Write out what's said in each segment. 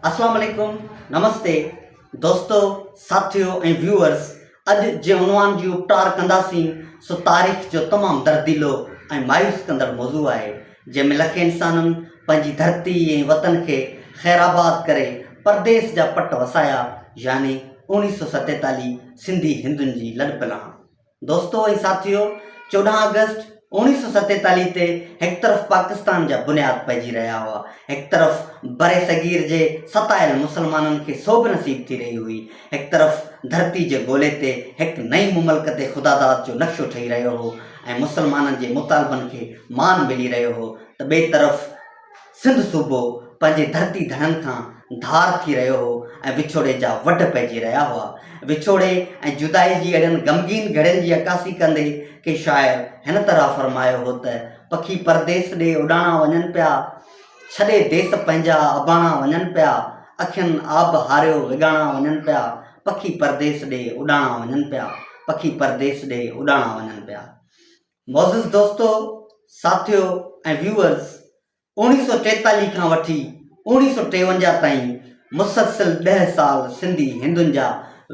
اسلام عليڪم نمستي دوستو ساٿيو ۽ ويوئرس اڄ جنهن عنوان جي اپٽار ڪنداسين سو تاريخ جو تمام درديلو ۽ مايوس ڪندڙ موضوع آهي جنهن ۾ لکين انسانن پنهنجي ڌرتي ۽ وطن کي خير آباد ڪري پرديس جا پٽ وسايا يعني اوڻيھ سئو ستيتاليھ سنڌي هندن جي لڏپلاڻ دوستو ۽ ساٿيو! چوڏهن آگسٽ اوڻيهه سؤ ستيتاليهه تي هڪ طرف پاڪستان جا بنياد پئجي رهيا هئا، هڪ طرف برصغير جي ستايل مسلمانن کي سوڀ نصيب ٿي رهي هئي، هڪ طرف ڌرتي جي گولي تي هڪ نئين مملڪت خداداد جو نقشو ٺهي رهيو هو ۽ مسلمانن جي مطالبن کي مان ملي رهيو هو ته ٻئي طرف سنڌ صوبو پنهنجي ڌرتي ڌڻن کان ڌار ٿي رهيو هو ۽ وڇوڙي جا وڍ پئجي رهيا هئا. وڇوڙي ۽ جدائي جي اهڙين غمگين گهڙين جي عڪاسي ڪندي ڪي شاعر هن طرح فرمايو هو ته، پکي پرديس ڏي اڏاڻا وڃن پيا، ڇڏي ديس پنهنجا اباڻا وڃن پيا، اکين آب هاريو وڳاڻا وڃن پيا، پکي پرديس ڏي اڏاڻا وڃن پيا، پکي پرديس ڏي اڏاڻا وڃن پيا. معزز دوستو، ساٿيو ۽ ويوئرز، اوڻيهه سؤ ٽيتاليهه کان وٺي اوڻيهه سؤ ٽيونجاهه تائين مسلسل ڏهه سال سنڌي هندن جا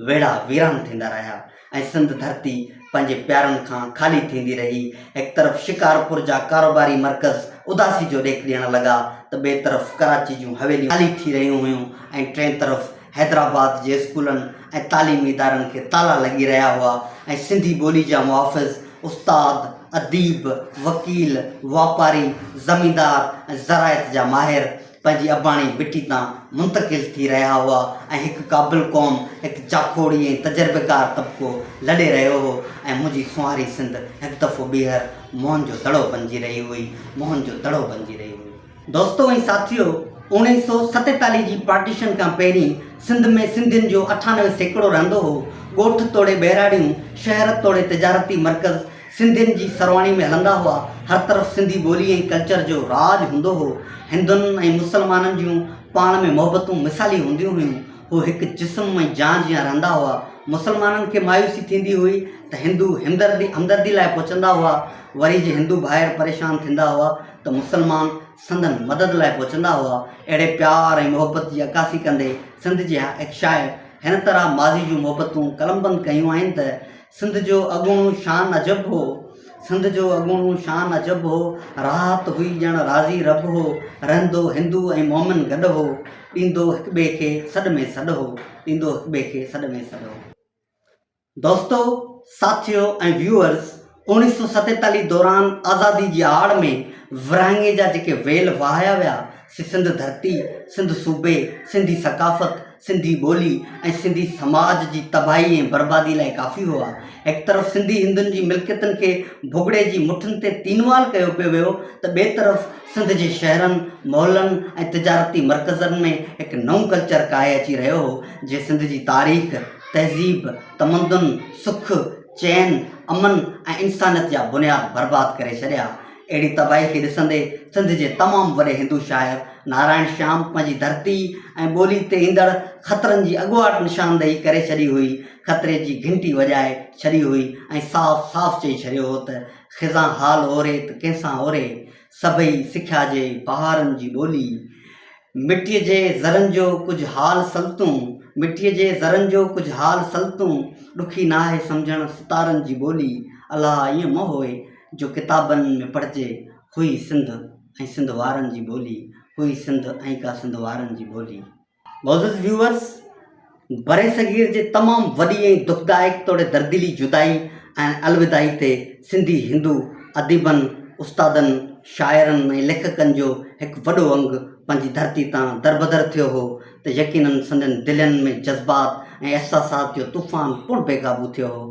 ويڙها ويران ٿيندا رهيا ۽ سنڌ ڌرتي پنهنجي پيارن کان خالي ٿيندي رهي. هڪ طرف شڪارپور جا ڪاروباري مرڪز اداسي جو ڏيک ڏيڻ لڳا ته ٻئي طرف ڪراچي جون حويليون خالي ٿي رهيون هيون ۽ ٽئين طرف حيدرآباد جي اسڪولن ۽ تعليمي ادارن کي تالا لڳي رهيا هئا ۽ سنڌي ٻولي جا محافظ، استاد، اديب، وڪيل، واپاري، زميندار ۽ زراعت جا ماهر پنهنجي اباڻي مٽي تان منتقل ٿي رهيا هئا ۽ هڪ قابل قوم، هڪ جاکوڙي ۽ تجربيڪار طبقو لڏي رهيو هو ۽ منهنجي سونهاري سنڌ هڪ دفعو ٻيهر موهن جو دڙو بنجي رهي هئي، موهن جو دڙو بنجي رهي هئي. دوستو ۽ ساٿيو، اوڻيهه سؤ ستيتاليهه جي پارٽيشن کان پهرين سنڌ ۾ سنڌين جو اٺانوي سيڪڙو رهندو هو. ڳوٺ توڙي ٻهراڙيون، شهر توڙي تجارتي مرڪز سنڌين جي سرواڻي ۾ هلندا هئا. هر طرف سنڌي ٻولي ۽ ڪلچر جو راڄ هوندو هو. هندن ۽ مسلمانن جون پاڻ ۾ محبتون مثالي هونديون هيون. هو هڪ جسم ۽ جان جيان رهندا هئا. مسلمانن کي مايوسي ٿيندي هئي ته هندو همدردي لاء پهچندا هئا. وري جي هندو ڀائر پريشان ٿيندا هئا ته مسلمان سندن مدد لاء پهچندا هئا، اهڙي پيار ۽ محبت جي عڪاسي ڪندي سنڌ جي هڪ شاعر هن طرح ماضي جون محبتون قلمبند ڪيون آهن ته، سنڌ جو اڳوڻو شان عجب هو، سنڌ جو اڳوڻو شان عجب هو، راحت هئي ڄڻ راضي رب هو، رهندو هندو ۽ مومن گڏ هو، ڏيندو هڪٻئي کي سڏ ۾ سڏ هو، ڏيندو هڪٻئي کي سڏ ۾ سڏ هو. دوستو، ساٿيو ۽ ويوئرز، اوڻيهه سؤ ستيتاليهه دوران آزادي جي آڙ ۾ ورهاڱي جا جيڪي ويل وهايا ويا، سي سنڌ ڌرتي، سنڌ صوبي، سنڌي ثقافت، سنڌي ٻولي ۽ سنڌي سماج جي تباهي ۽ بربادي لاء ڪافي هئا. هڪ طرف سنڌي هندن جي ملڪيتن کي ڀڳڙي جي مٺن تي تينوال ڪيو پيو ويو ته ٻئي طرف سنڌ جي شهرن، محلن ۽ تجارتي مرڪزن ۾ هڪ نئون ڪلچر ڪاهي اچي رهيو هو، جنهن سنڌ جي تاريخ، تهذيب، تمدن، سک، چين، امن ۽ انسانيت جا بنياد برباد ڪري ڇڏيا. اهڙي تباهي کي ڏسندي سنڌ جي تمام وڏي هندو شاعر نارائڻ شيام پنهنجي ڌرتي ۽ ٻولي تي ايندڙ خطرن جي اڳواٽ نشاندهي ڪري ڇڏي هئي، خطري جي گهنٽي وڄائي ڇڏي هئي ۽ صاف صاف چئي ڇڏيو هو ته، خزان حال اوري ته ڪنهن سان اوري، سڀئي سکيا جي بهارن جي ٻولي. مٽيء جي ذرن جو ڪجهه حال سلطون، مٽيء جي ذرن جو ڪجهه حال سلطون، ڏکي ناهي سمجهڻ ستارن جي ٻولي، الها ائين مئو هوء جو ڪتابن ۾ پڙهجي، هئي سنڌ ۽ سنڌ وارن جي ٻولي، هئي سنڌ ۽ ڪا سنڌ وارن جي ٻولي. معزز ويوئرز! برصغير جي تمام وڏي ۽ دکدائڪ توڙي درديلي جدائي ۽ الوداعي تي سنڌي هندو اديبن، استادن، شاعرن ۽ ليکڪن جو هڪ وڏو انگ پنهنجي ڌرتي تان دربدر ٿيو هو ته يقيناً سندن دلين ۾ جذبات ۽ احساسات جو طوفان پڻ بيقابو ٿيو هو.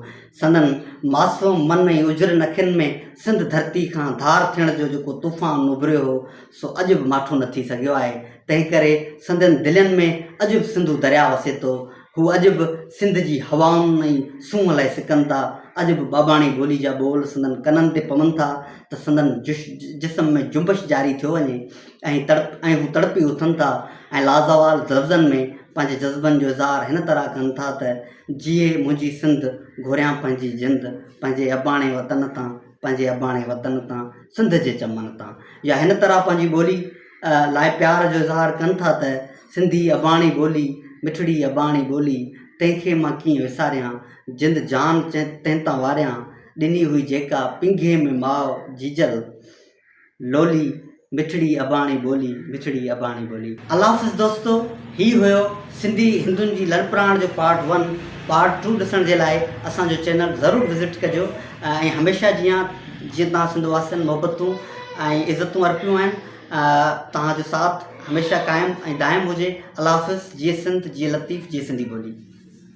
سندن معصوم من ۽ اجرين اکين ۾ سنڌ ڌرتي کان ڌار ٿيڻ جو جيڪو طوفان اڀريو هو، سو اڄ به ماٺو نه ٿي سگهيو آهي، تنهن ڪري سندن دلين ۾ اڄ به سنڌو درياء وسي ٿو، هو اڄ به سنڌ جي هوائن ۽ سونهن لئي سڪن ٿا، اڄ به ٻاٻاڻي ٻولي جا ٻول سندن ڪنن تي پون ٿا ته سندن جسم ۾ جنبش جاري ٿيو وڃي ۽ تڙپ ۽ هو تڙپي اٿن ٿا ۽ لازوال لفظن ۾ پنهنجي جذبن جو اظهار هن طرح ڪن ٿا ته جيئي منهنجي سنڌ گهوريان پنهنجي جند پنهنجي اباڻي وطن تان پنهنجي اباڻي وطن تان، سنڌ جي چمن تان يا هن طرح پنهنجي ٻولي لاء پيار جو اظهار ڪن ٿا ته سنڌي اباڻي ٻولي، مٺڙي اباڻي ٻولي، تنهن کي مان ڪيئن وساريان، جند جان تنهن تان واريان، ڏني هئي جيڪا پينگهي ۾ ماء جيجل. لولي، مٺڙي اباڻي ٻولي، مٺڙي اباڻي ٻولي. الله حافظ دوستو هي هيو سنڌي هندن جي لڏپراڻ جو پارٽ ون پارٽ ٽو ڏسڻ جي لاء اسان جو چينل ضرور وزٽ ڪجو ۽ هميشه جيان جيئن توهان سنڌ واسين محبتون ۽ عزتون ارپيون آهن توهان جو ساٿ هميشه قائم ۽ دائم هجي الله حافظ جيئي سنڌ جيئي لطيف جيئي سنڌي ٻولي.